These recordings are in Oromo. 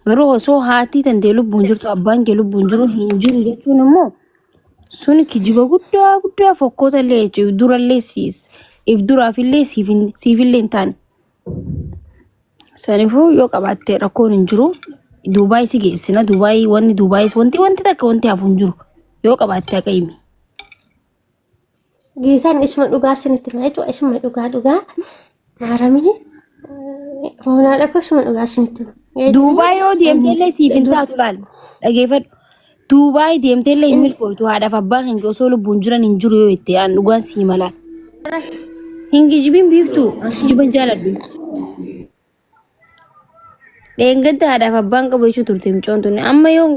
Garuu osoo haatii tantee lubbuun jirtu abbaan kee lubbuun jiru hin jiru jechuun immoo sun kijiba guddaa guddaa fokkoota illee jechuudha. If durallee siis if duraaf illee siif hin- siif illee hin taane. Sanifuu yoo qabaatte rakkoon hin jiru. Duubaay si geessina. Duubaay wanni Duubaayis wanti wanti takka wanti hafu hin jiru. Yoo qabaatte akka himi. Geetaan isuma dhugaa isinitti hima jechuudha. Isuma dhugaa dhugaa maaramii hoonaa dhaqu isuma dhugaa isinitti hima. Duubaay yoo deemteellee siif hin taatu laal. Dhageeffadhu. Duubaay deemteellee hin milkootu haadhaaf abbaa kan osoo lubbuun jiran hin jiru yoo itti aan dhugaan sii malaan. Hin gijibin biiftuu. Jiban jaaladhu. Dheengadda haadhaaf abbaan qabu jechuu turte mucoon tuni. Amma yoo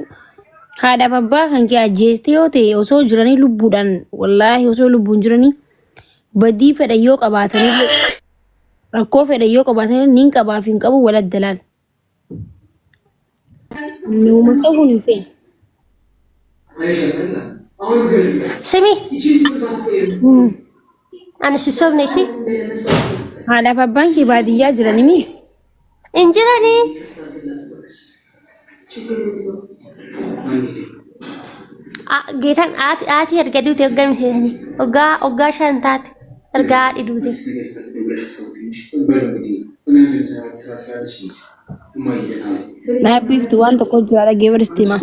haadhaaf abbaa kan kee ajjeeste yoo ta'e osoo jiranii lubbuudhaan wallaahi osoo lubbuun jiranii badii fedha yoo qabaatanillee rakkoo fedha yoo qabaatanillee niin qabaaf hin qabu wal addalaan. Nuuma ta'uu hin feene. Simi. Ani si sobne ishee. Haadhaaf abbaan kee baadiyyaa jirani mi? Hin jiranii. Geetan aatii erga duute hoggaa miseesani. Hoggaa hoggaa shan taate erga haadhi duute. Dhaabbiiftu waan tokko jira dhagee bari sitti hima.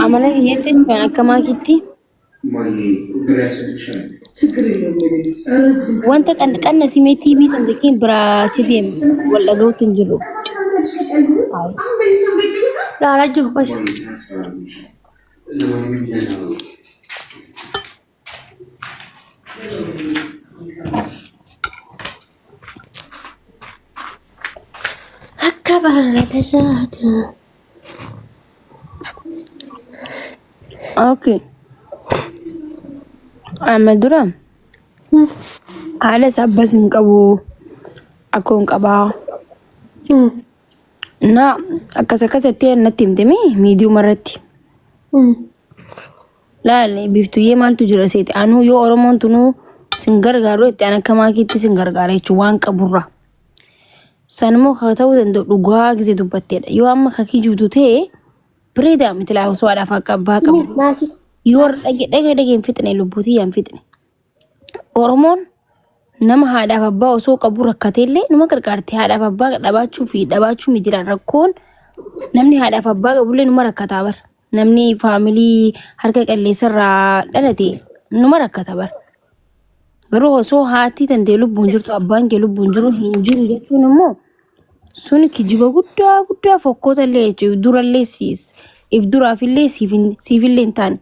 Amala biyyattiin kan akka maakiitti wanta qanna simee TV san jechuun biraa si deemu wal dhaga'uutu hin jiru. Dhaaraa jiru qofa. Akka baala saatu. Okay. Amma dura haadhas abbas hin qabu akkoon qabaa. Mm, Na akkas akkas jettee natti himte mee miidiyuma irratti. mm. Laale biiftuyyee maaltu jira seete anuu yoo oromoon tunuu sin gargaaru itti an akka maakiitti sin gargaara jechuun waan qaburra. San immoo kan ta'uu danda'u dhugaa gisee dubbatteedha. Yoo amma kan kijibdu ta'e bireedaa miti laa osoo haadhaaf akka abbaa qabu. Maakii. Yoo dhage dhage dhage hin fixne lubbuutii hin fixne. Oromoon nama haadhaaf abbaa osoo qabu rakkateellee nama gargaarti. Haadhaaf abbaa dhabaachuu fi dhabaachuu miti jedha rakkoon. Namni haadhaaf abbaa qabullee nama rakkataa bara. Namni faamilii harka qalleessarraa dhalate nama rakkata bara. Garuu osoo haati tantee lubbuun jirtu abbaan kee lubbuun jiru hin jiru jechuun immoo sun kijiba guddaa guddaa fokkoota illee jechuudha. Durallee siis if duraafillee siifillee hin taane.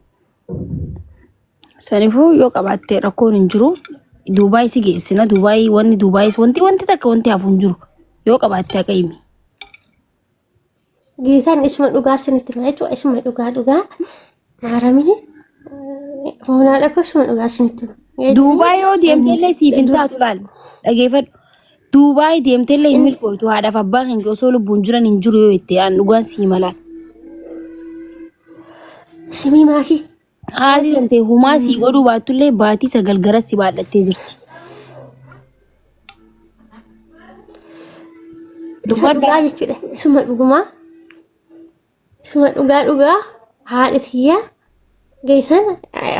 Sanifuu yoo qabaatte rakkoon hin jiru. Duubaay si geessina. Duubaay wanni Duubaayis wanti wanti takka wanti hafu hin jiru. Yoo qabaatte haqa himi. Geetaan isuma dhugaa isinitti hima jechuudha. Isuma dhugaa dhugaa. Maaramii hoonaa dhaqu isuma dhugaa isinitti hima. Duubaay yoo deemte illee siif hin taatu laal. Dhageeffadhu. Duubaay deemteellee hin milkooytu haadhaaf abbaa keenya osoo lubbuun jiran hin jiru yoo itti aan dhugaan sii malaan. Simii maakii. Haati deemtee humaa sii godhuu baattullee baatii sagal gara si baadhattee jirti. Isa dhugaa jechuudha. Isuma dhugumaa. Suma dhugaa dhugaa haadha tiyya geessan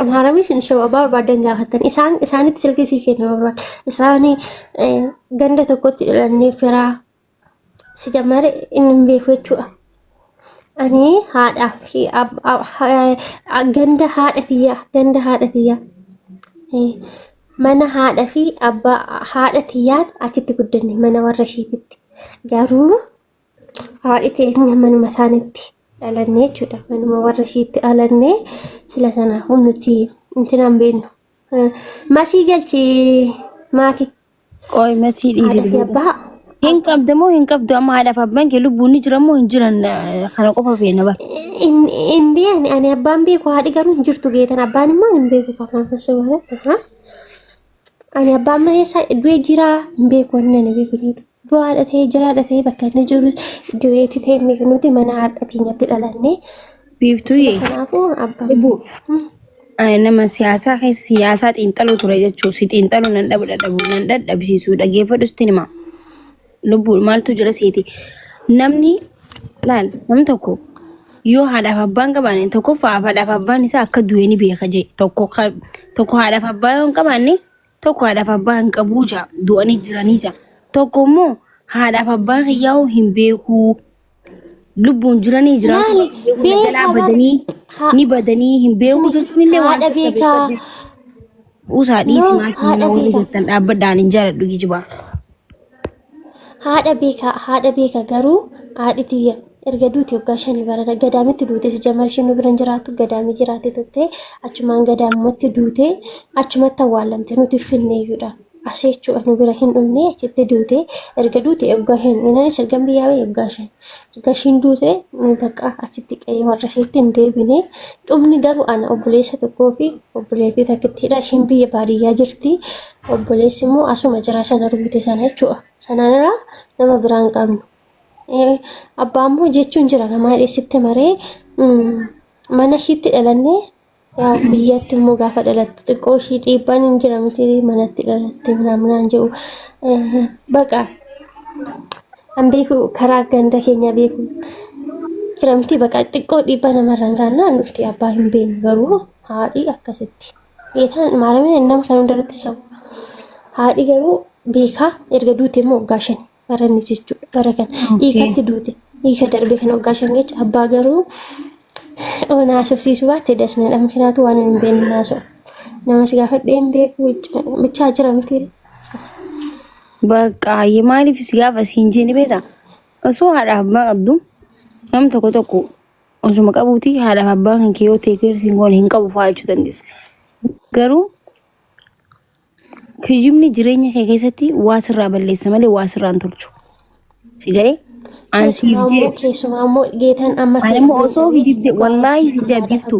amaaramii fi shawaa barbaadan gaafatan isaan isaanitti silkii sii kenna barbaadan isaanii eh, ganda tokkotti dhalannee firaa si jammare inni hin beeku jechuudha. Ani haadhaa fi ab- ab- ha- eh, ganda haadha tiyya ganda haadha tiyya eh, mana haadha fi abbaa haadha tiyyaan achitti guddanne mana warra ishiititti garuu haadhi teenya manuma isaanitti dhalanne jechuudha. Manuma warra ishiitti dhalanne sila sanaafuu nuti intinaan beennu. Masii galchi maaki Qoy masii haadha fi dhiifi. abbaa Hin qabda moo hin qabdu amma haadhaaf abbaan kee lubbuun ni jira moo hin jiran eh, kana qofa feena bara. in- in beekne ani abbaan beeku haadhi garuu hin jirtu geetan abbaan immoo hin beeku kafaan fassoo baala. Ani abbaan manee isaa du'ee jiraa hin beeku inni ani beeku jedhu. Du'aa dhatee jiraa dhatee bakka inni jiru du'eeti ta'e hin beeku nuti mana haadha keenyatti dhalanne. Biiftuu Sila kanaafuu abbaan. Ibu. Ani nama siyaasaa keessa siyaasaa xiinxaluu ture jechuun si xiinxaluu nan dhabu dadhabu nan dadhabsiisuu dhageeffadhu sitti hima. lubbuu maaltu jira seeti namni laal namni tokko yoo haadhaaf abbaan qabaanne tokkoffaa haadhaaf abbaan isaa akka du'e ni beeka jee tokko ka- tokko haadhaaf abbaa yoo hin qabaanne tokko haadhaaf abbaa hin qabuu jaa du'anii jiranii jaa tokko immoo haadhaaf abbaa kiyyaa'uu hin beekuu lubbuun jiranii jiraatu Maali? baay'ee hunda Beekaa jalaa bar- badanii haa- ni badanii hin beeku jechuun illee waan haadha keessa beekaa. beekaa beeku. Usaa dhiisi No, maatii haadha mana waliin beekaa. jirtan dhaabbadhaan hin jaaladhu kijibaa. haadha beekaa haadha beekaa garuu haadhi tiyya erga duuti waggaa shanii barana gadaamitti duute si jamal isheen nu bira hin jiraattu gadaamii jiraate turte achumaan gadaamumatti duute achumatti awwaalamte nuti finneeyyuudha. Asii jechuudha nu bira hin dhumne achitti duute erga duute erga hin inanis erga biyyaa ba'e erga shan erga ishiin duute bakka achitti qe'ee warra isheetti hin deebine dhumni garuu ana obboleessa tokkoo fi obboleettii takkittiidha ishiin biyya baadiyyaa jirti obboleessi immoo asuma jira sana rukute sana jechuudha sanaan irraa nama biraa hin qabnu. Abbaa immoo jechuun jira namaa dheessitti maree mana ishiitti dhalannee Yaa biyyatti immoo gaafa dhalattu xiqqoo ishii dhiibbaan hin jira miti manatti dhalatte minaaminaan jedhu baqa an beeku karaa ganda keenya beeku jira miti baqa xiqqoo dhiibbaa namarraan gaannaa nuti abbaa hin beeknu garuu haadhi akkasitti beekaan maarameen nama kan hundarratti sabu haadhi garuu beekaa erga duute immoo waggaa shani baranne jechuudha. Bara kana hiikatti duute hiika darbe kan waggaa shan jecha abbaa garuu oona haasofsiisuu baatte dasnadha. Mikinaatu waan hin beekne haasa'u. Namas gaafadhee hin beeku bichaa jira miti. Bakka hayyee maaliif si gaafa siin jeeni beektaa? Osoo haadhaaf abbaa qabdu nam tokko tokko osuma qabuuti haadhaaf abbaa kan kee yoo ta'e kirsiin goone hin qabu fa'aa jechuu dandeessa. Garuu Kijibni jireenya kee keessatti waa sirraa balleessa malee waa sirraa hin tolchu. Si galee? An siif Keessumaa immoo deebi. keessumaa immoo geetan amma Ani immoo osoo kijibde wallaahi si jaabbiftu.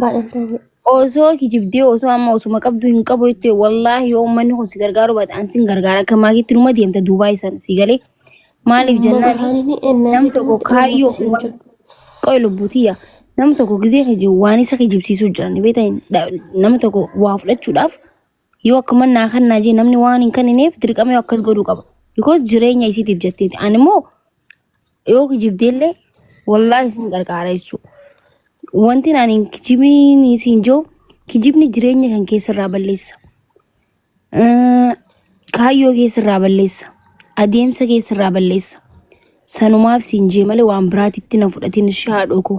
Osoo kijibdee osoo amma osuma qabdu hin qabu jettee wallaahi yoo uummanni kun si gargaaru baate an sin gargaara akka maakiitti numa deemta duubaa isan si galee. Maaliif jennaan nam tokko kaayyoo waan- qoy lubbuutiyya nam tokko gizee kiji waan isa kijibsiisuu jiran beektan nama tokko waa fudhachuudhaaf yoo akkuma naa kan naa jee namni waan hin kennineef dirqama yoo akkas godhuu qaba because jireenya isiitiif jetteeti ani immoo yoo kijibdeellee wallaahi isin qarqaara jechuudha wanti ani kijibni isin joo kijibni jireenya kan keessarraa balleessa Eh, kaayyoo keessarraa balleessa adeemsa keessarraa balleessa sanumaaf siin jee malee waan biraatitti na fudhatiin shaadhoo koo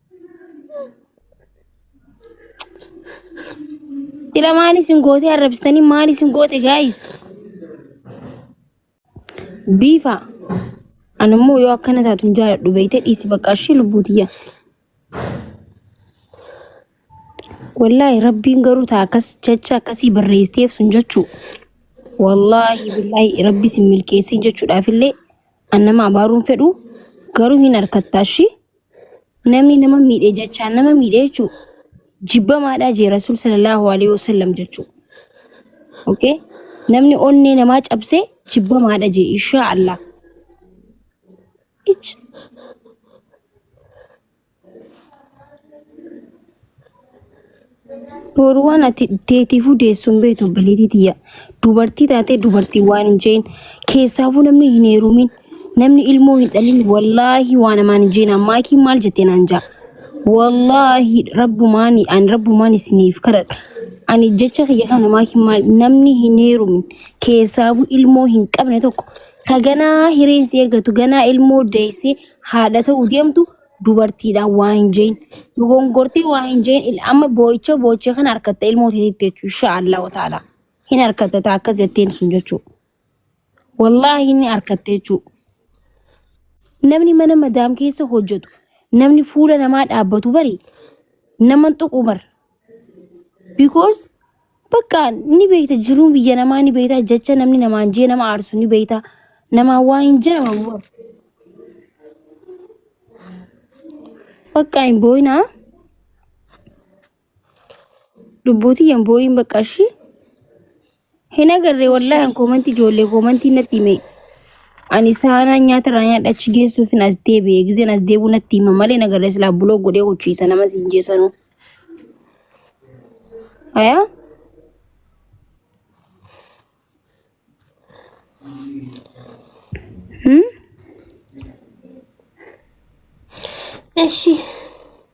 Sila maal isin gootee arrabsitanii maal isin goote gaayis? Biifa. Ani immoo yoo akkana taatu hin jaaladhu beektee dhiisi bakka ishee lubbuu tiyya. Wallaahi rabbiin garuu taa akkas jecha akkasii barreesseef sun jechuu. Wallaahi billaahi rabbi isin milkeessee jechuudhaaf illee an nama abaaruun fedhu garuu hin harkattaa ishee. Namni nama miidhe jechaa nama miidhe jechuun jibbamaadhaa jee Rasuul sallallahu alaihi wasallam jechuun. Okay? Namni onnee namaa cabse jibbamaadha jee insha Allah. Ich. Boru waan ati teetiifuu deessu hin beektu obboleettii tiyya. Dubartii taatee dubartii waan hin jeen keessaafuu namni hin heerumin namni ilmoo hin dhalin wallaahi waan amaan hin jeen ammaa kii maal jettee naan ja'a. Wallaahi rabbumaan ani rabbumaan isiniif kadhadha. Ani jecha kiyya kana ammaa kii maal namni hin heerumin keessaafuu ilmoo hin qabne tokko ka ganaa hireen si eeggatu ganaa ilmoo deessee haadha ta'uu deemtu dubartiidha waa hin jeen dogongortee waa hin jeen il- amma boo'icha boo'icha kan harkatta ilmoo teetitti jechuu insha allahu taala hin harkatta taa akkas jetteen sun jechuu wallaahi inni harkatte jechuu namni mana madaam keessa hojjetu namni fuula namaa dhaabbatu bari naman tuqu bar because bakka ni beekta jiruu biyya namaa ni beekta jecha namni namaan jee nama aarsu ni beekta namaan waa hin jedhamu bakka hin booyinaa lubbuutii hin booyin bakka ishii Hin agarre wallahi an koomantii ijoollee koomantii natti hime. Ani saanaa nyaata irraa nyaadha achi geessuuf hin as deebi'e. Gizeen as deebi'u natti hima malee hin agarre silaa buloo godhee huchiisa nama siin jeesanuu. Ayaa hmm? Eshi.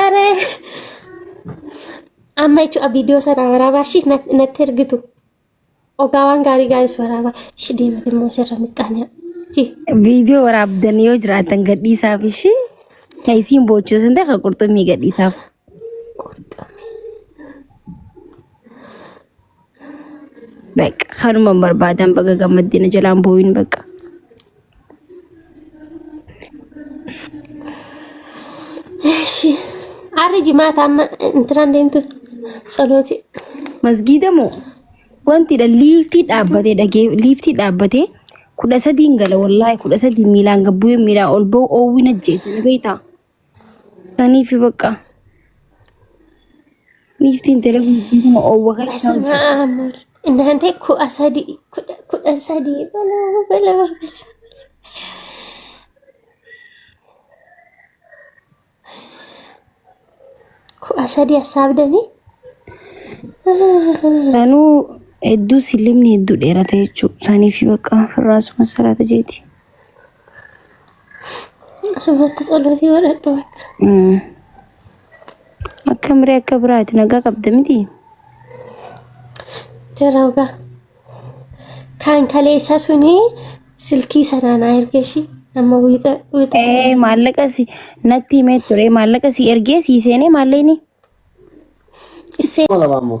Ere. Amma jechuudha viidiyoo sana waraabaa ishii nat- natti ergitu. Ogaa waan gaarii gaariis waraabaa. Ishii deemate immoo sirra miqqaanyaa. Ji. Viidiyoo waraabdan yoo jiraatan gadhiisaaf ishee kan isiin boochuu sun ta'e kan qurxummii gadhiisaaf. Qurxummii. Bakka kanuma barbaadan baga gammaddina jalaan booyin bakka. Eshi. Arri jimaata amma intiraan deemtu tsalooti. Masgiida moo wanti dha liiftii dhaabbatee dhagee liiftii dhaabbatee kudha sadiin gala wallaahi kudha sadii miilaan gabbuu miilaa ol ba'u oowwiin ajjeese na beektaa. Ani fi bakka. Niiftiin telefoonii kana oowwa kan isaan Asuma amur. Inaante kudha sadii kudha kudha sadii balaa balaa balaa. Kudha sadii assaabdanii. Sanuu hedduu sillimni hedduu dheerate jechuudha. Sanii fi bakka firraasuma salaata jeeti. Asumatti tsolootii godhadhu bakka. Akka miree akka biraati nagaa qabda miti. Jarauga. Kan kaleessa suni silkii sanaan haa erge ishii. Amma wiixa wiixa. Ee maallaqa si natti himee ture maallaqa si ergee si seenee maallaqni Issee Kuma lama ammoo.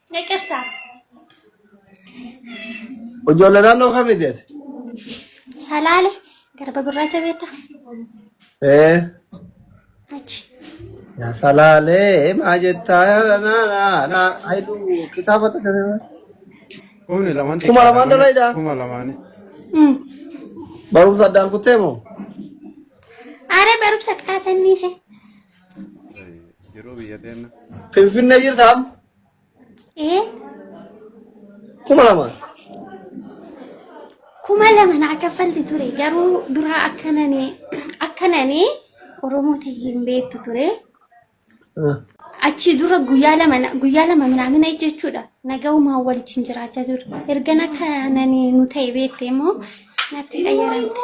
Neqessa. Ijoollee naannoo kamii deete? Salaale. Garba gurraacha beekta. Ee. Achi. Yaa salaalee maa jettaa yaa na na na ayidu kitaaba takka sirba. Kumni lamaan Kuma xiqqaadha. lamaan dhala idhaa. Kuma lamaani. Mm. Barumsa addaan kuttee moo? Aare barumsa qaatannise. Jiruu biyya teenna. Finfinnee jirtaam? Ee Kuma lama. kuma lama naa kaffalti ture garuu duraa akkanani akkanani Oromoo ta'e hin beektu ture. Achi dura guyyaa lama na- guyyaa lama minaamina jechuudha. Nagaumaa waliin jiraachaa ture. Ergan akkanani nu ta'e beekte immoo natti qayyaramte.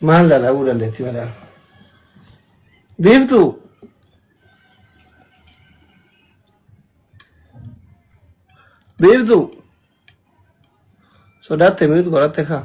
Maal dha dhabuu dandeetti madaam. Biiftuu. Biiftuu. Sodaatte miut godhatte kaa.